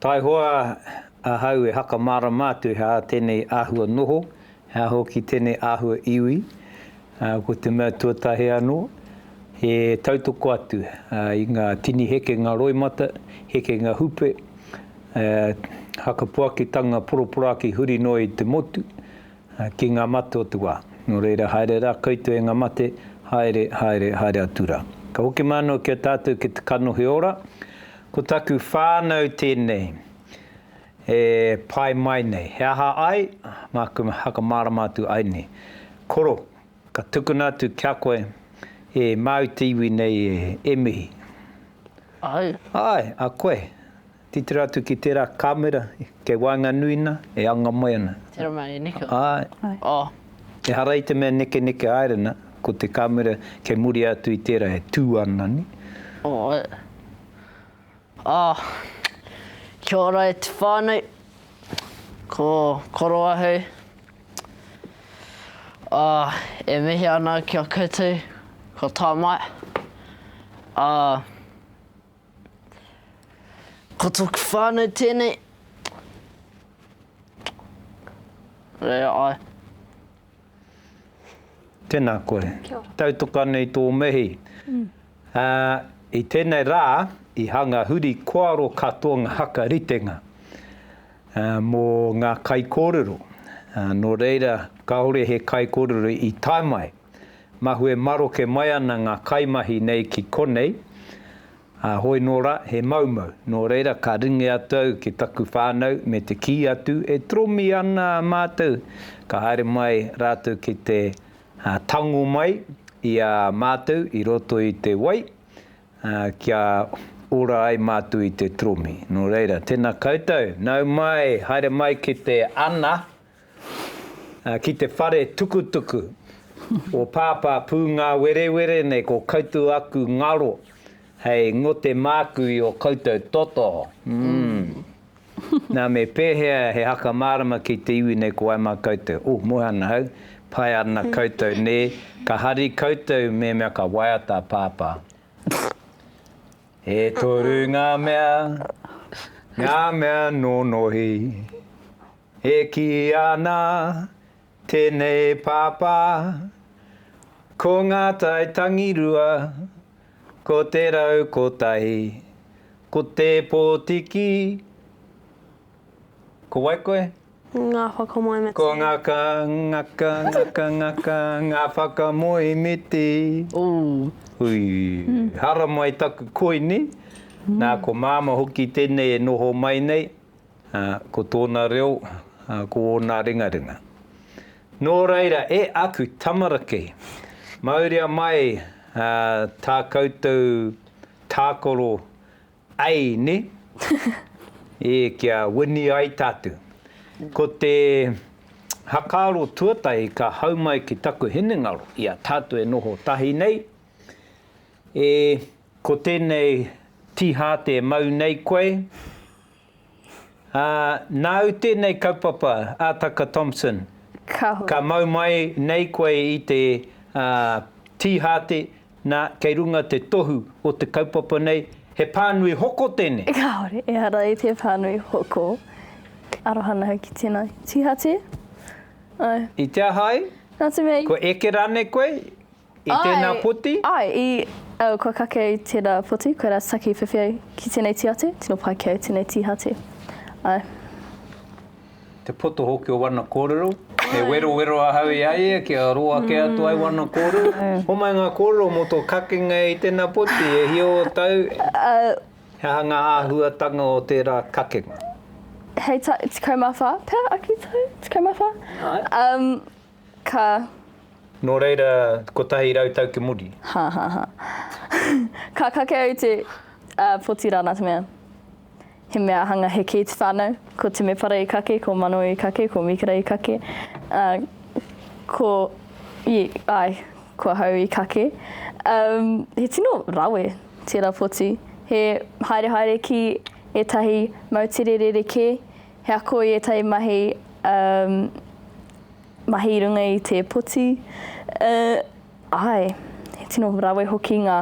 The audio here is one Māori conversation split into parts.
Taihoa ahau e whakamārama atu he aha tēnei āhua noho, he aha hoki tēnei āhua iwi, ā, ko te mea tuatahi anō, he tautoko atu i ngā tini hekenga roimata, hekenga hupe, ā, whakapuakitanga poroporoaki huri noa i te motu, ā, ki ngā mate o te wā. Nō reira, haere rā koutou e ngā mate, haere, haere, haere atu rā. Ka hoki mai anō ki a tātou ki te kanohi ora, Ko taku whānau tēnei e pai mai nei. He aha ai? Māku e whakamārama atu ai nei. Koro, ka tukuna atu kia koe e māu te iwi nei e, e mihi. Āe. Āe, a koe. Titiro atu ki tērā kāmera kei waenganui nā, e anga mai ana. Tērā mai e Nico. Āe. Āe. Oh. Ehara i te mea nekeneke āerena, ko te kāmera kei muri atu i tērā e tū ana nei. Oe. Ah. Kia ora e te whānau. Ko Koroahu. Ah, e mihi ana ki a koutou, ko Tamae. Ah. Ko toku whanau tenei. Rea ai. Tena koe. Tautoka anei tō mihi. I tenei rā, i hanga huri koaro katoa nga haka ritenga mo nga kaikorero. No reira, kahore he kaikorero i tae mai. Mahue maroke mai ana ngā kaimahi nei ki konei, ā, hoi nō rā, he maumau. Nō reira, ka ringi atu au ki taku whānau me te kī atu, e tromi ana mātou, ka haere mai rātou ki te tango mai i a mātou i roto i te wai, ā, kia ora ai mātou i te tromi. Nō reira, tēnā koutou, nau mai, haere mai ki te ana. Ki te whare tukutuku o Pāpā Pūngāwerewere nei ko koutou aku ngaro hei ngote māku i o koutou toto. Nā me pēhea he haka mārama ki te iwi nei ko wai mā koutou? Ūh moe ana hau, pai ana koutou nē, ka hari koutou mēmea ka waiata a Pāpā. E toru ngā mea, ngā mea nōnohi. E kī ana tēnei pāpā, Ko ngā tai tangirua, ko te rau kotahi, ko te pōtiki, ko wai koe? Ngā whakamoemiti. Ko ngā ka, ngā ka, ngā ka, ngā ka, ngā whakamoemiti. Ooh. Hui. Haramai taku koini. Nā, ko Māma hoki tēnei e noho mai nei. Ā, ko tōna reo, ā, ko ōna ringaringa. Nō reira, e aku tamaraki, mauria mai, ā, tā koutou tākaro Ei, nē? E, kia wini ai tātou. Ko te hakaaro tuatahi ka hau mai ki taku hinengaro i a tātou e noho tahi nei, E, ko tēnei tīhāte e mau nei koe? Ā, nāu tēnei kaupapa, Ātaka Thompson. Ka huri. Ka mau mai nei koe i te, ā, tīhāte, nā, kei runga te tohu o te kaupapa nei, he pānui hoko tēnei. Kāore, ehara i te pānui hoko. Aroha noa ki tēnei tīhāte. Āe. I te aha ai? Nā te mea i. Kua eke rānei koe? I tēnā poti? Āe, i. Au, kua kake au i tērā poti, koirā te take i whiwhi au ki tēnei tī atu, tino pai ki au tēnei tī hati. Āe. Te poto hoki o wana kōrero, me werowero ahau i a ia kia roa kē atu ai wana kōrero. Homai ngā kōrero mō tō kakenga i tēnā poti, e hia o tau? Āe. He aha ngā āhuatanga o tērā kakenga? Hei tau, 14, pea, aki tau, 14? Āe. Ka. Nō reira, kotahi rau tau ki muri. Ha, ha, ha. Ka kake au te, ā, poti rāna te mea. He mea hanga heke i te whānau. Ko Temepara i kake, ko Mano i kake, ko Mikera i kake, ā, ko, ī, āe, ko ahau i kake. Umm, he tino rawe tērā poti. He haerehaere ki ētahi moutere rerekē, He ako i ētahi mahi, umm, mahi i runga i te poti, uh, āe, he tino rawe hoki ngā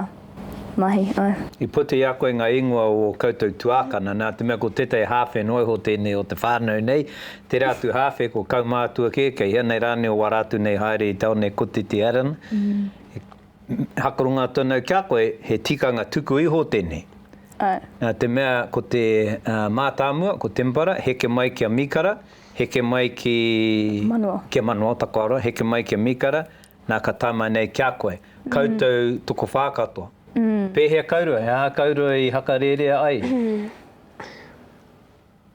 mahi, āe. I puta i a koe ngā ingoa o ō koutou tuākana, nā te mea ko tētahi hāwhe noa iho tēnei o te whānau nei, tērā atu hāwhe ko Kaumātua kē, kei hea nei rānei o wā rātou nei haere i taone kotiti Arran, Hakoronga tonu kia koe, he tikanga tuku iho tenei. Na te mea ko te matamua, ko Tempera, heke mai ki a Mikara, heke mai ki ki a Manoa, Takoaroa, heke mai ki a Mikara, na ka tae mai nei kia koe. Koutou tokowha katoa. Pehea kouroe, a kouroe i hakarerea ai?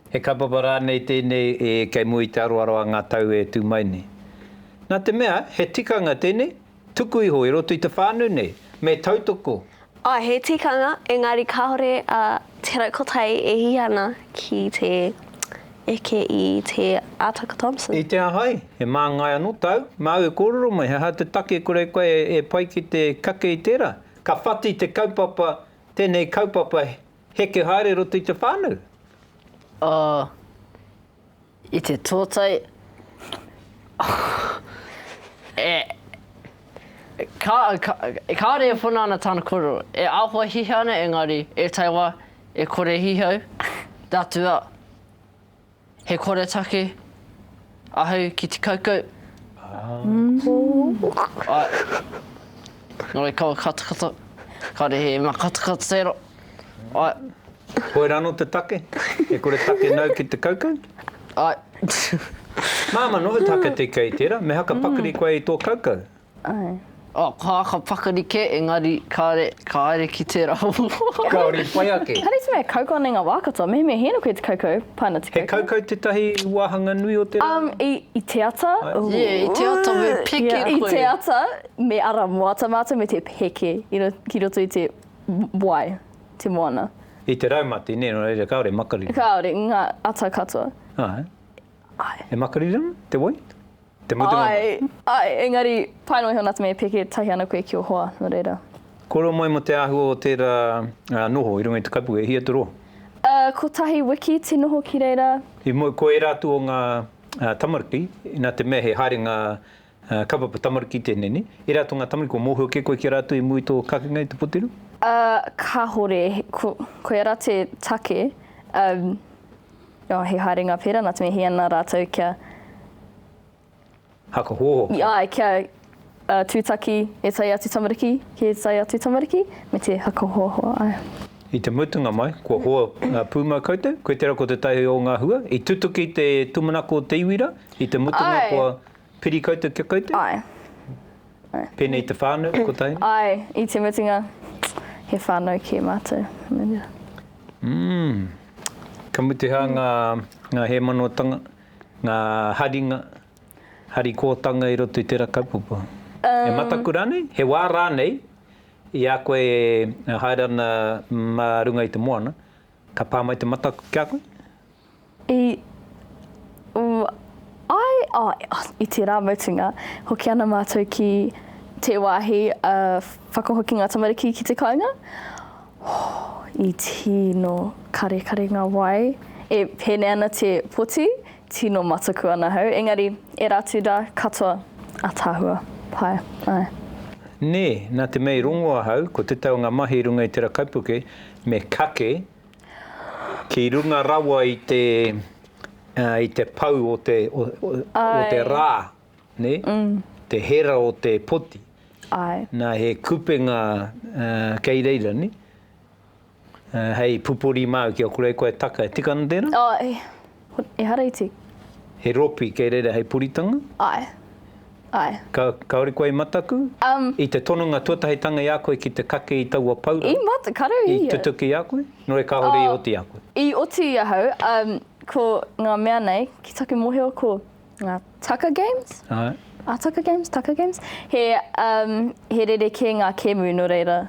He kaupapa rānei tēnei e kei mua i te aroaro a ngā tau e tū mai nei? Nā te mea, he tikanga tēnei, tuku iho i roto i te whānau nei, me tautoko. Āe, he tikanga, engari kāore a Te Raukotai e hiha ana ki te eke i Te Ataka Thompson. I te aha ai? He māngai anō tāu? Māu e kōrero mai, he aha te take kore koe e pai ki te kake i tērā? Ka whati te kaupapa, tēnei kaupapa. Heke haere roto i te whānau? Oh, i te tōtai, e, ka, ka, kāore e whana ana tāna kōrero, e āhua hihau ana engari, ētahi wā, e kore hihau, te Atua, He koretake ahau ki te kaukau. Ae. Nore kaua katakata. Kare he ma katakata tero. Ae. Koe ra no te take? He koretake nau ki te kaukau? Ae. Mama, no te take te kei tera, me haka pakari koe i to kaukau? Ae. Oh, ka aka pakari ke, engari kare, ka haere ki tera hou. Kaore i pai ake. Kare te mea kaukau nei nga wa katoa, mehemea he noko i te kaukau, pai ana te kaukau. He kaukau tetahi wahanga nui o te rā? Um, i, i te ata, ooh. Yeah, i te ata me peke koe. I te ata, me ara moata matou me te peke i ro, ki roto i te wai, te moana. I te raumati ne, no reira kaore makariri. Kaore, nga ata katoa. Ae. Ae. E makaririana te wai? Te mutunga wai? Ae, ae, engari, pae noa iho nā te mea i pēke tahi ana koe ki o hoa, nō reira. Kōrero mai mō te āhua o tērā noho i runga i te kapu, e hia te roa? Ā, kotahi wiki te noho ki reira. I moe, ko ērā atu o ngā tamariki, nā te mea he haerenga Ā, ka papa tamariki tēnei, nē? E rā tō ngā tamariki kua mōhio kē koe ki a rātou i mua i tō kakenga i te poteru? Ā, kāore. Ko, koia rā te take, ā, ā, he haerenga pērā nā te mea he ana rātou kia, Haka hōhō. i, āe, kia, ā, tūtaki e tae atu tamariki ki e tae atu tamariki, me te haka hōhō, āe. I te mutunga mai, kua hoa, ā, pūmau koutou, koe tērā ko te tahi o ngā hua, i tutuki te tūmanako o te iwi rā, i te mutunga kua. Āe, Piri koutou kia koutou? Ae. Pēnei te whānau, kotahi? Ae, i te mutunga, he whānau kē mātou. Mm. Ka mutu hā ngā, ngā hēmanotanga, ngā haringa, harikōtanga i roto i tērā kaupapa? E mataku rānei? He wā rānei, i a koe e haere ana mā runga i te moana, ka pā mai te mataku ki a koe? I u ai, i tērā mutunga, hoki ana mātou ki te wāhi whakahokinga tamariki ki te kāinga. I tino karekare ngā wai, e pēnei ana te poti, tino mataku ana hau, engari, ērā atu rā katoa ataahua pae, āe. Nē, nā te mea i rongo ahau, ko te tau o ngā mahi i runga i tērā kaipuke, me kake Ki runga rawa i te, i te pau o te, o te rā, nē? Te hera o te poti. Āe. Nā, he kupenga kei reira, nē? Hei pupuri māu ki a kore, koe taka, e tika ana tērā? Āe. He hareiti. He ropi kei reira hei puritanga? Ae. Ae. Ka, kaore koe i mataku? Um. I te tononga tuatahitanga i a koe ki te kake i taua paura? I mat, karu ia. I tutuki i a koe? Nō reira kāore i oti i a koe? I oti i ahau, um, ko ngā mea nei, ki taku mohio ko. Ngā Tucker Games? Aye. A Tucker Games, Tucker Games? He, um, he rerekē ngā kēmu, nō reira,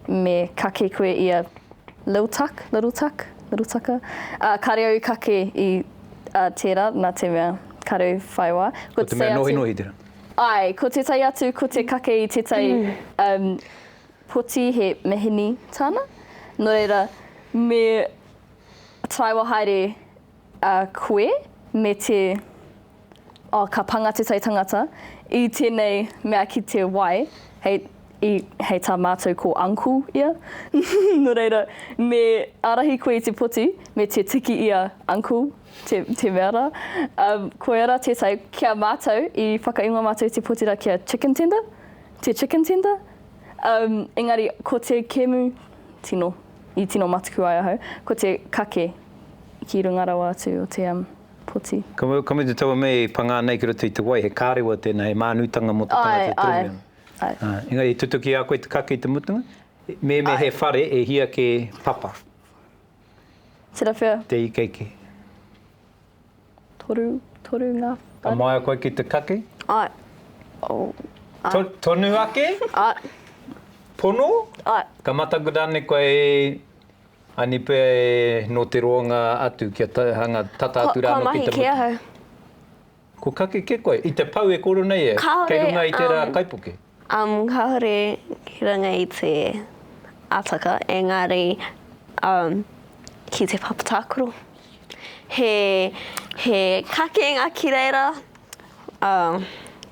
me kake koe i a Lil Tuck, Little Tuck, Little Tucker. Uh, kāre au kake i uh, tērā, nā te mea, kāre au whai wā. Ko, ko te mea nohi nohi tērā? Ai, ko te tai atu, ko te kake i te tai mm. um, poti he mehini tāna. Nō reira, me taiwa haere A koe me te, oh, ka panga te taitangata i tenei mea ki te wai, hei, i, hei ta matou ko uncle ia, no reira, me arahi koe i te poti, me te tiki ia uncle, te, te mea ra, um, koia ra tetai, ki a matou, i whakaingoa matou te poti ra ki a chicken tender, te chicken tender, um, engari ko te kemu, tino. I tino matuku ai ahau, ko te kake ki runga rawa atu o te poti. Ka mutu taua mea i pangā nei ki roto i te wai, he kārewa tēnā, he mānutanga mō te tangata e toromi ana. Āe, āe. Engari i tutuki a koe te kake i te mutunga? Āe. Mēnē he whare, e hia kē papa. Tera whea? Te ikeike. Toru, toru ngā whare. Ka māia koe ki te kaki? Ae. To, tonu ake? Ae. Pono? Ae. Ka mataku rānei koe e Aini pea e nō te roanga atu kia ta, hanga tata atu rānō ki te motu? Ka, ka mahi kē ahau. Ko kake kē koe? I te pou e koro nei e? Kāore, um. Kei runga i tērā kaipuke? Um, kāore ki runga i te ataka, engari, um, ki te papa tākaro. He, he kakenga ki reira, um,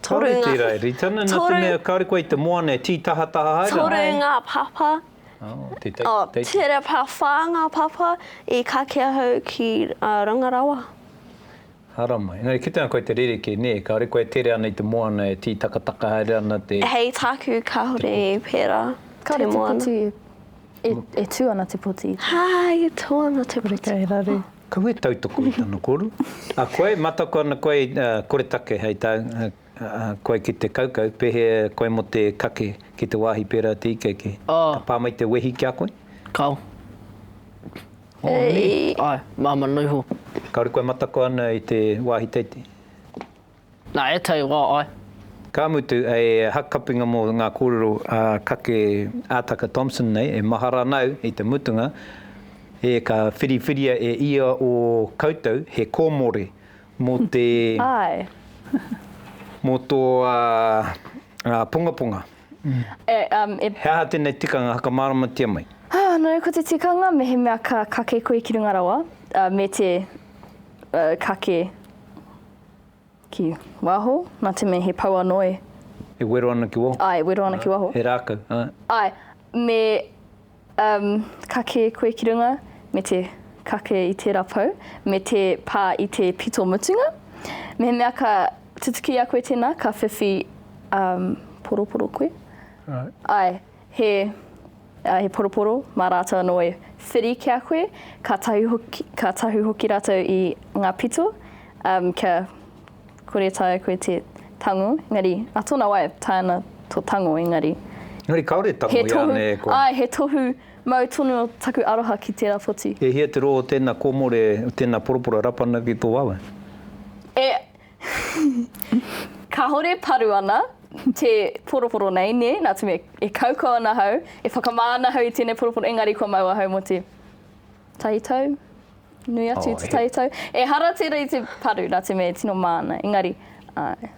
toru ngā... Kāore tērā e rita ana, nā te mea, kāore koe i te moana e tītahataha haere ana. Toru ngā papa. Oh, te take, oh, take. Tere pā whā ngā papa i kakea hau ki uh, Rangarawa. Haramai. Engari e kitenga koe te rerekē, nē, kāore koe e tere ana i te moana e tītakataka haere ana te. Hei tāku kāore e pērā te moana. Kāore te poti e, e tū ana te poti. Hā, e tū ana te poti. Kore kei raru. Kau e tautoko i tana koru. A koe, mataku ana koe i koretake hei tā koe ki te kaukau, pēhea koe mō te kake ki te wāhi pērā te ikeike? Ka pā mai te wehi ki a koe? Kao. Honi, Ae, māma noa iho. Kāore kua matako ana i te wāhi teitei. Nā ētahi wā, ae. Ka mutu, hei hakakapinga mō ngā kōrero a Kake Ataka Thompson nei, e mahara ana au i te mutunga, e ka whiriwhiria e ia o koutou he kōmore mō te, Ae. mō tō pongaponga. E, um, e... He aha tēnei tikanga hakamāramatia mai? Anō, ko te tikanga mehemea ka kake koe ki runga rawa, uh, me te uh, kake ki waho, nā te mea he pau anō e. E wero ana ki waho? Ai, e wero ana ki waho. He rākau, ai. Ai, me Umm, ka kē koe ki runga, me te kake i tērā pou, me te pā i te pito mutunga. Mehemea ka tutukia koe tēnā, ka whiwhi, umm, poroporo koe. Right. Āe, he, āe, he poroporo, mā rātou anō e whiri ki a koe, kātahi hoki, kātahi hoki rātou i ngā pito, umm, kia, Kore taea koe te tango, engari, a tona wai, taea ana to tango, engari. Engari kaore tango i ane e koe. Ae, he tohu mau tonu o taku aroha ki tera poti. E hia te ro o tena komore, o tena poroporo rapana ki to wawe? E kahore paru ana te poroporo nei, ne, na te mea, e kaukau ana ahau, e whakama ana ahau i tenei poroporo, engari kua mau ahau mo te. Taitau, nui atu i te taitau. Ehara tērā i te paru, nā te mea e tino māna, engari, āe.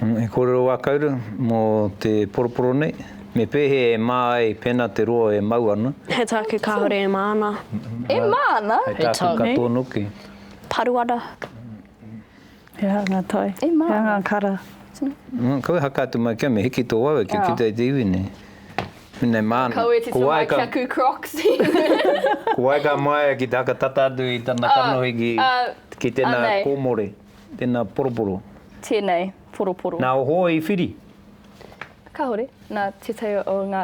He kōrero wā kauru mō te poroporo nei, me pēhea e mā ai pēnā te roa e mau ana? He tāku kāore e māna. E māna? He tāku katoa noke. Paru ana. He aha ngā tai? He aha ngā kara? Kaua e haka atu mai kia me hiki tō wawe kia kitea i te iwi nei. Pēnei māna. Ka kaua e tito mai kia kū Crocs. Ko wai ka māia ki te haka tata atu i tana kanohi ki tēnā kōmore, tēnā poroporo? Tēnei poroporo. Nā, ohō i whiri? Kāore. Nā, tētahi o ngā.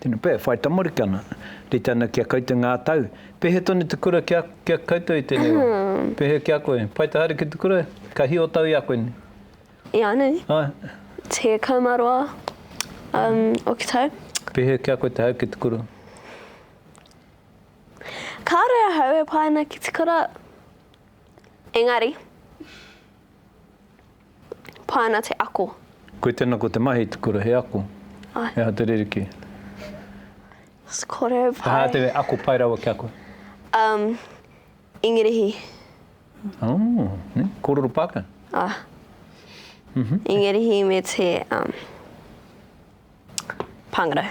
Tena pea, e whai tamariki ana. Rite ana ki a koutou nga tau. Pehe tonu te kura ki a koutou i tenei wa? Pehe ki a koe? Pai te haere ki te kura? Ka hi o tau i a koe nei? Ianui. Ae. Te kau ma roa o ki tau. Pehe ki a koe te haere ki te kura? Kare ahau e pae ana ki te kura. Engari. Pai ana te ako. Koe tena ko te mahi te kura he ako. Ai. He aha te ririki? Kore pai. He aha te ako pai rawa kia koe? Um, Ingirihi. Oh, ne? Kororo Pākehā? Ah. Mm -hmm. Ingirihi me te um, Pāngarau.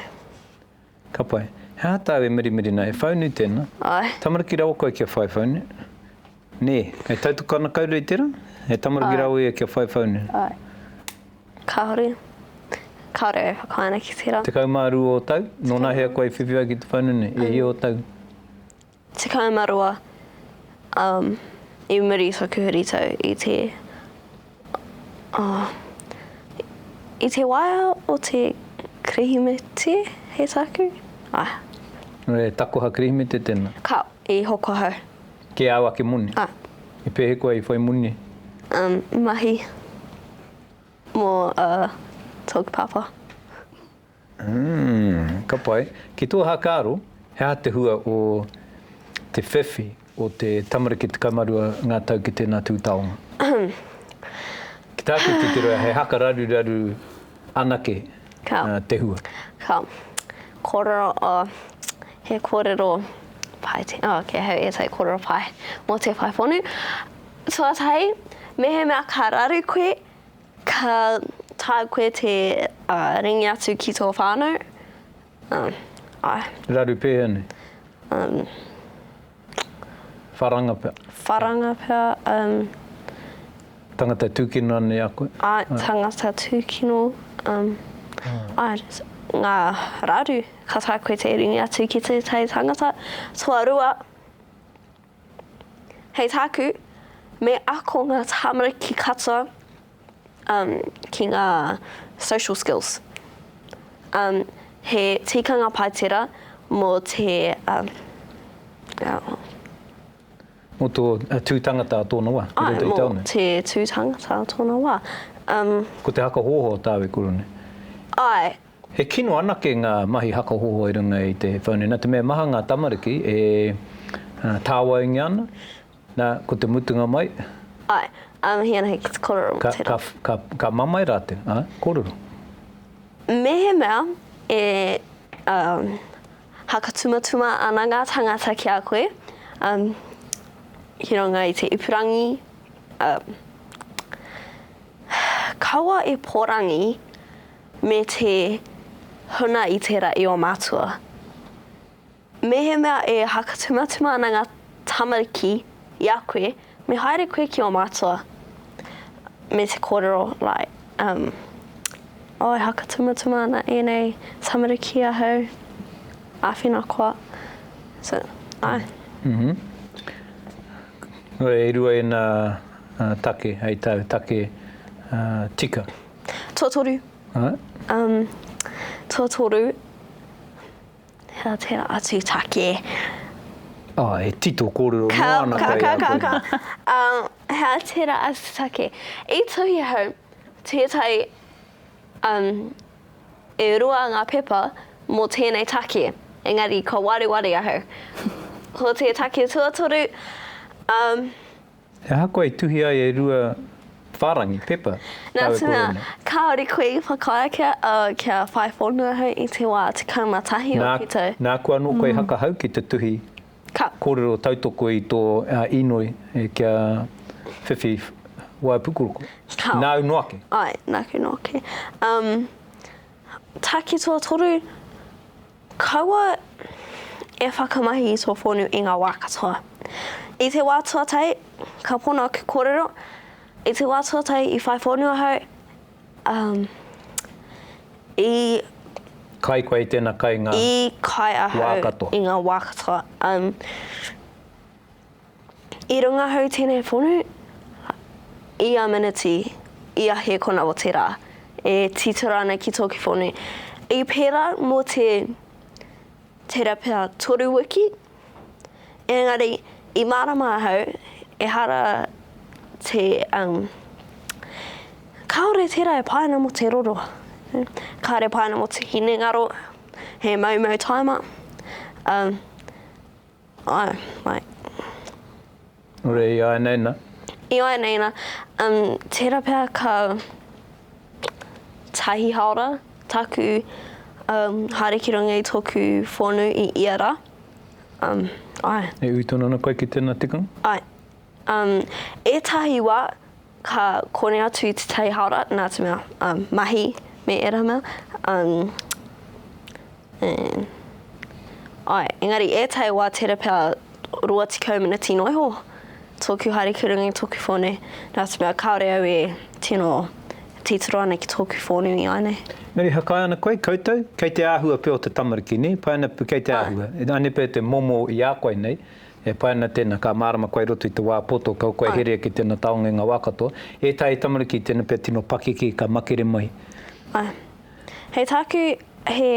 Ka pai. He aha tāu e mirimiri nei? He whaunu tēnā? Ae. Tamariki rawa koe kia whai whaunu? Nē. Hei tautoko ana koutou i tērā? He tamariki rawa ia kia whai whaunu? Ae. Kāore. Kāore e whakaae ana ki tērā. Tekau mā rua o tau? Nō nahea koe i whiwhi ai ki te whaunu nei? E hia o tau? Tekau ma roa um i muri taku huritau i te oh i te waea o te Kirihimete he taku ah. He takoha Kirihimete tena? Ka i hoko ahau. Ke au ake moni? Ah. I pehe koe i whai moni? Um mahi mo uh toku papa. Umm, ka pai. Ki tō hakaaro, he aha te hua o te whiwhi o te tamariki 12 ngā tau ki tēnā tū taonga? Ki tāku titiro, he haka raruraru anake te hua. Ka kōrero, he kōrero pai te, oh, kei ahau ētahi kōrero pai mō te whai whonu. Tuatahi, mehemea ka raru koe, Ka taea koe te ringi atu ki tō whānau? Āe. Raru pēhea nei? Wharanga pea? Wharanga pea, āe. Tangata tūkino anei a koe? Āe, tangata tūkino, āe. Ngā raru, ka taea koe te ringi atu ki tētahi tangata, toa rua. Hei tāku, me ako ngā tāmariki katoa um, ki ngā social skills. Um, he tikanga pai tera mō te... Um, oh. Mō tō uh, tū tangata a tōna wā, ki roto i tāone? Mō te tū tangata a tōna wā. Um, Ko te haka hōhō tāu e koro nei? Ai, He kino anake ngā mahi haka hoho i runga i te whānui. Nā te mea maha ngā tamariki e tāwaingia ana, nā, ko te mutunga mai. Āe, ā, mihi ana hoki te kōrero mō te rā. Ka, ka, ka mamae rātou, āe, kōrero. Mehemea e, um, haka tumatuma ana ngā tāngata ki a koe, um, ki runga i te ipurangi, um, kaua e pōrangi. Me te huna i tērā i ō mātua. Mehemea e whakatumatuma ana ngā tamariki i a koe, me haere koe ki ō mātua me te kōrero, like, um, Oh, e whakatumatuma ana ēnei tamariki i ahau, āwhina koa. So, āe. Mm-hmm. Nō reira, e rua ēnā take hei tāu take tika. Tuatoru. Alright. Um, tuatoru, hea tera atu take. Ah, he tito korero ka, noa ana ka, kai ka, ka, ka. um, hea tera atu take. I tuhi hau, tētai, um, e rua ngā pepa mō tēnei take, engari ka wareware ahau. Ko te take tuatoru, um, Ahakoa i tuhi ai e rua whārangi, pepa, tāu e kore ana. Nā tēnā, kāore koe i whakaae kia whai whānau ahau i te wā 11 o Pito. Nāku anō koe i hakahau ki te tuhi kōrero tautoko i tō īnoi kia whiwhi waipukuroko. Nāu noa ake. Āe, nāku noa ake. Take tuatoru. Kaua e whakamahi i tō whonu i ngā wā katoa. I te wā tuatahi, ka pono aku kōrero, i te wā tuatahi i whai whonu ahau, ā, i. Kai koe i tēnā, kai i ngā. I kai ahau. Wā katoa. I ngā wā katoa. I runga hau tēnei whonu, i a Manatee, i a Hēkona o te Rā, e titiro ana ki tōku whonu. I pērā mō te tera pea toru wiki, engari i mārama ahau, ehara te, um, kāore tērā e pāina mō te roro. Kāore e pāina mō te hinengaro, he maumau taima, um, Ae, ae. Ure i ae nei na? I ae nei na. Um, tera pea ka tahi haora taku um, haere ki runga i toku whonu i ia ra. Um, ae. E ui tonu ana koe ki tena tikanga? Ae. Um, etahi wa, Ka kore atu te tai hara nā te mea, um, mahi me ērā mea, um, and, ai, engari ētahi wā tērā pea 20 miniti noa iho, tōku haere ki runga i tōku whone, nā te mea kāore au e tino titiro ana ki tōku whonu i ānei. Me rihakai ana koe, koutou, kei te āhua pea o te tamariki, nē, pai ana pū kei te āhua, ānei pea te momo i a koe nei, E pai ana tēnā, ka mārama koe i roto i te wā poto, kaua koe e herea ki tēnā taongenga wā katoa. Ētahi tamariki, tēnā pea tino pakeke, ka makere mai. Āe. Hei tāku, he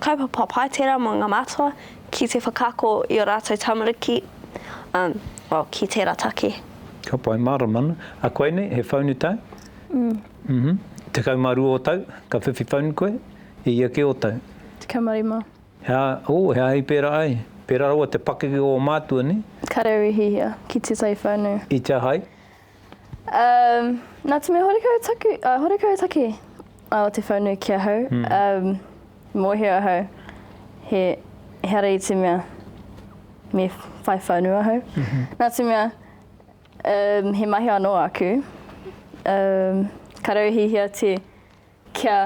kaupapa pai tērā mō ngā mātua ki te whakaako i ō rātou tamariki, umm, well, ki tērā take. Ka pai, mārama ana. A koe nei, he whaunu tau? Umm. Umm. Tekau mā rua o tau, ka whiwhi whaunu koe? E ia kē o tau? Tekau mā rima. Hea, oh, hea hei pērā ai? Pērā rawa te pakeke o ō mātua, nē? Ka rau e hihia, ki te tai whānau. I te aha ai? Um, nā te mea horekau taku, uh, horekau take a te whānau ki ahau, um, mōhio ahau he, he ara i te mea me whai whānau ahau. Nā te mea, um, he mahi anō aku, um, ka rau e hihia te kia,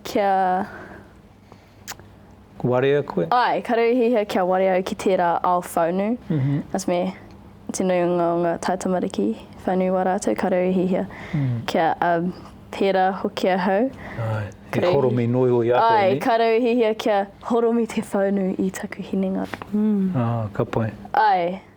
kia. Warea koe? Ae, ka rere hiahia kia warea au ki tērā ao whaunu. That's me, te nui o nga taitamariki, whaunu wa ratou, ka rere hiahia kia um, pērā hoki ahau. Ae, he horomi nui oi ahau nei. Ae, ka rere hiahia kia horomi te whaunu i taku hinengaro. Ah, ka pai. Ae.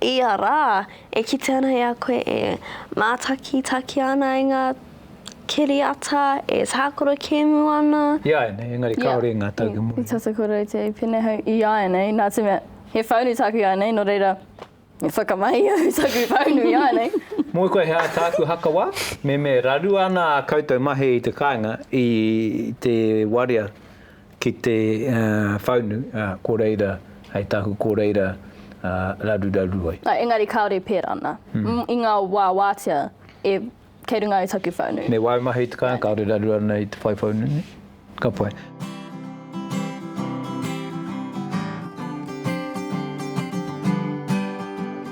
Ia rā, e kite ana i a koe e mātakitaki ana i ngā kiriata, e tākaro kēmu ana. Iāianei, engari kāore i ngā tau ki muri. I tata koutou te i pēnei hau? Iāianei, nā te mea, he whaunu tāku iāianei, nō reira, me whakamahi au taku whaunu iāianei. Moe koe he aha tāku haka wā? Me me rarua ana ā koutou mahi i te kāinga, i te warea, Ki te whaunu ko reira hei tahu ko reira raruraru ai. Engari kāore pērā nā. I ngā wā wātea e kei runga ai taku whaunu. Me wāu mahi i te kāinga kāore raruraru nei te whai whaunu nei. Ka pai.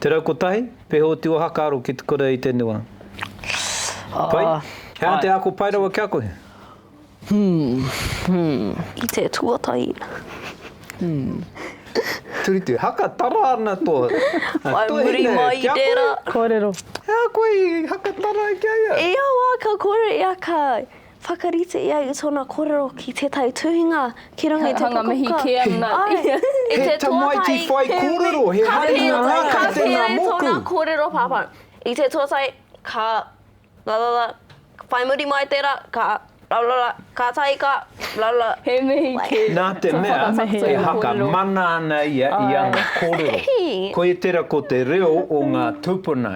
Te rau kotahi, Pehe o te ohaka aro ki te kura i te nua. Pai? He aha te ako pai rawa kia koe? I te tuatahi. Turitu, Haka tara ana to tuahine kia koe? Kōrero. He aha koe i haka tara ki a ia? I a wā ka kore ia ka. Whakarite ia i tōna kōrero ki tētahi tuhinga ki runga i te pukapuka. He hanga mihi kē ana ia. He tamaiti whai kōrero, he haringa rā kei tēnā moku. Ka pēhea tōna kōrero, Pāpā? I te tuatahi, ka lalala, whai muri mai tērā, ka lalala, kātahi ka lalala. He mihi kē. Nā te mea, e haka mana ana ia i ana kōrero. Koia tērā ko te reo o ngā tūpuna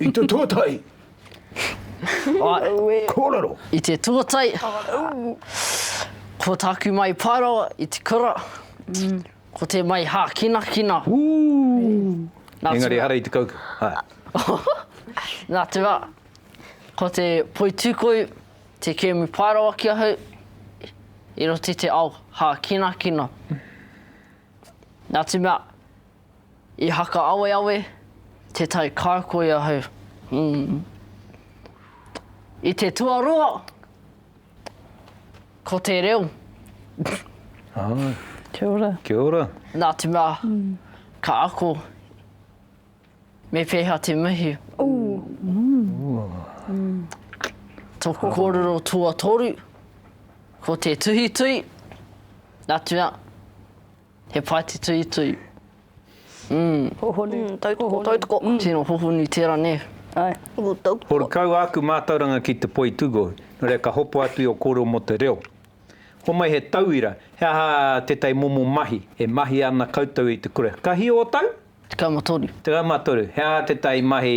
I te tuatai. Aue. Kōrero. I te tuatai. Ko tāku mai Paerawa i te kura. Mm. Ko te mai hākinakina. Ooh. Engari hara i te kauka. Nā te wā, ko te poitūkohu, te kēmu Paerawa ki ahau, i roto i te ao hākinakina. Nā te mea, I haka-aweawe te tai kākoi ahau, mm. I te tuarua, ko te reo. Āe. Kia ora. Kia ora. Nā te mea, ka ako, me pēhea te mihi. Tōku kōrero tuatoru, ko te tuhituhi, nā te mea, He pae te tuitui. Hohonu. Tautoko, tautoko. Tino hohonu tera ne. Ae. Ooh, tautoko. Ko kau āku mātauranga ki te poi tūgohu, nō reira ka hopo atu i o kōrero mō te reo. Homai he tauira, he aha tētahi momo mahi e mahia ana koutou i te kura? Ka hio o tau? Tekau ma toru. Tekau ma toru. He aha tētahi mahi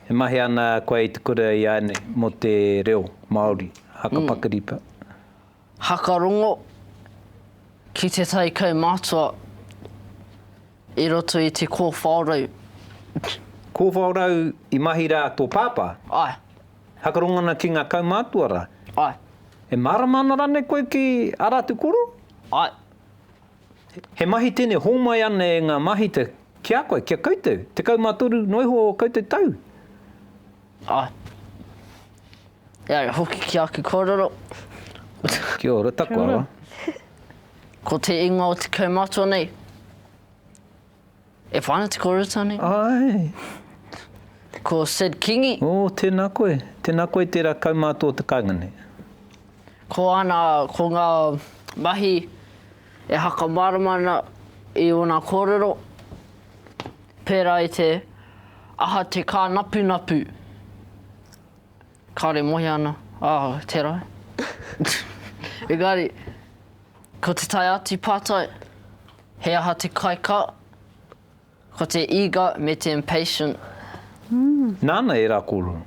e mahia ana koe i te kura i a nei mō te reo Māori? Haka pakari. Haka rongo ki te tai kaumātua i roto i te kōwhaorau. Kōwhaorau i mahi rā tō pāpā? Ae. Haka rongo ana ki ngā kaumātua rā? Ae. E mārama ana rānei koe ki ā rātou koro? Ae. He mahi tēnei hōmai ana e ngā māhita ki a koe, ki a koutou, tekau mā toru noa iho o koutou tau? Ā, e ai hoki ki aku kōrero. Kia ora, taku awa. Ko te ingoa o te kaumātua nei, e whana te kōrero nei. Ai. Ko Sid Kingi. Ō, oh, tēnā koe. Tēnā koe tērā kaumātua o te kāinga nei. Ko ana, ko ngā mahi e haka mārama ana i ōna kōrero. Pērā i te aha te kānapunapu. Kāore e mohi ana, ā, tērā. Engari, ko te tae atu pātai, he aha te kaikā? Ko te eager me te impatient. Nāna ērā kōrero.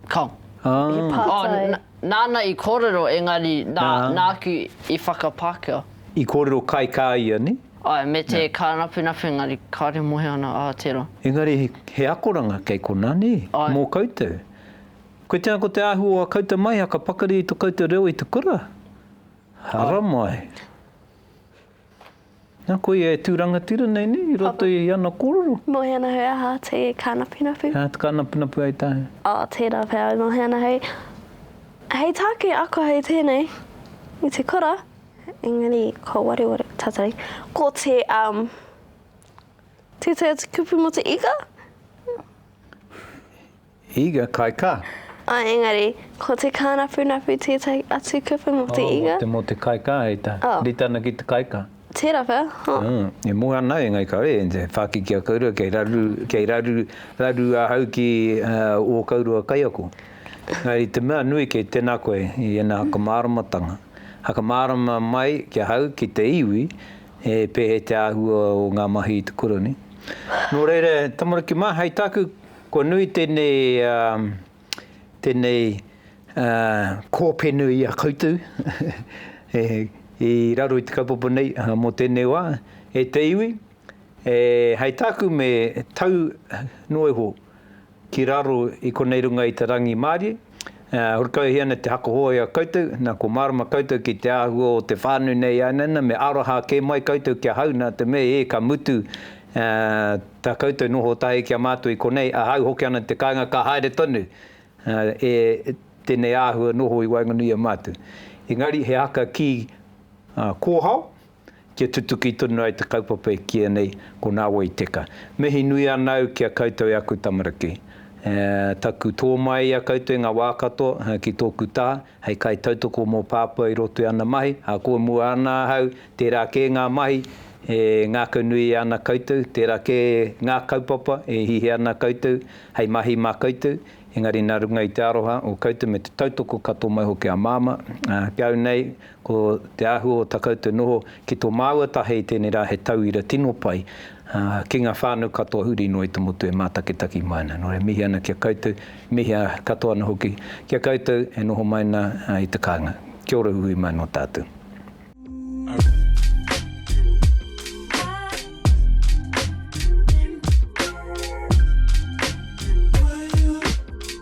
Ka. He pātai. Oh, nāna i kōrero, engari nā, nāku i whakapākehā. I kōrero kai kā ia, nē? Āe, me te kānapunapu, engari kāore mohe ana, ā, tērā. Engari he akoranga kei konā, nē? Āe. Mō koutou. Koe tēnā ko te āhua o ā koutou mahi, ā, ka pakari i tō koutou reo i te kura? Hara mai. Na koia e tu rangatira nei ne i roto i ana kororo. No he ana hoi aha te kanapunapu? He aha te kanapunapu ai tae? Oh tera pea no he ana hoi. Hei take ako hei tenei i te kura engari ko waruwaru tatari ko te um teitei atu kupu mo te ika. Iga kai ka. Ā, engari, ko te kānapunapu tētahi atu kupu mō te iga. Ā, mō te kai ka, hei tā. Ā. Rita ana ki te kai ka. Tērā pea, hā. Ā, e moe ana au, engari kāore e whākiki a kouroua kei raru, kei raru, raru ahau ki ō kouroua kaiako. Engari te mea nui kei tēnā koe i ēnā hakamāramatanga. Hakamārama mai ki ahau, ki te iwi, he pēhea te āhua o ngā mahi i te Koroni. Nō reira, tamariki mā, hei tāku. Kua nui tēnei, tēnei kōpenu i a koutou i raro i te kaupapa nei mō tēnei wā. E te iwi, hei tāku me tau noa iho ki raro i konei runga i te rangimārie. E horekauhia ana te haka hōia a koutou, nā, kua mārama koutou ki te āhua o te whānui nei ānana, me aroha kē mai koutou ki ahau, nā te mea, ē, ka mutu tā koutou noho tahi ki a mātou i konei, ahau hoki ana te kāinga ka haere tonu e tēnei āhua noho i waenganui i a mātou. Engari he haka kī kōhao, kia tutuki tonu ai te kaupapa e kīia nei ko Nā Wai Teka. Mihi nui ana au ki a koutou e aku tamariki. Taku tō mai i a koutou i ngā wā katoa ki tōku tā hei kaitautoko mō Pāpā i roto i ana mahi, ahakoa mua ana ahau, tērā kē ngā mahi e ngākau nui ana koutou, tērā kē ngā kaupapa e hihi ana koutou hei mahi mā koutou, engari nā runga i te aroha o koutou me te tautoko katoa mai hoki a Māmā, ki au nei Ko te āhua o ta koutou noho ki to māua taha i tēnei rā he tauira tino pai ki nga whānau katoa huri noa i te motu e mātakitaki mai ana. Nō reira, mihi ana ki a koutou, mihi katoa ana hoki ki a koutou e noho mai ana i te kāinga. Kia ora uiui mai nō tātou.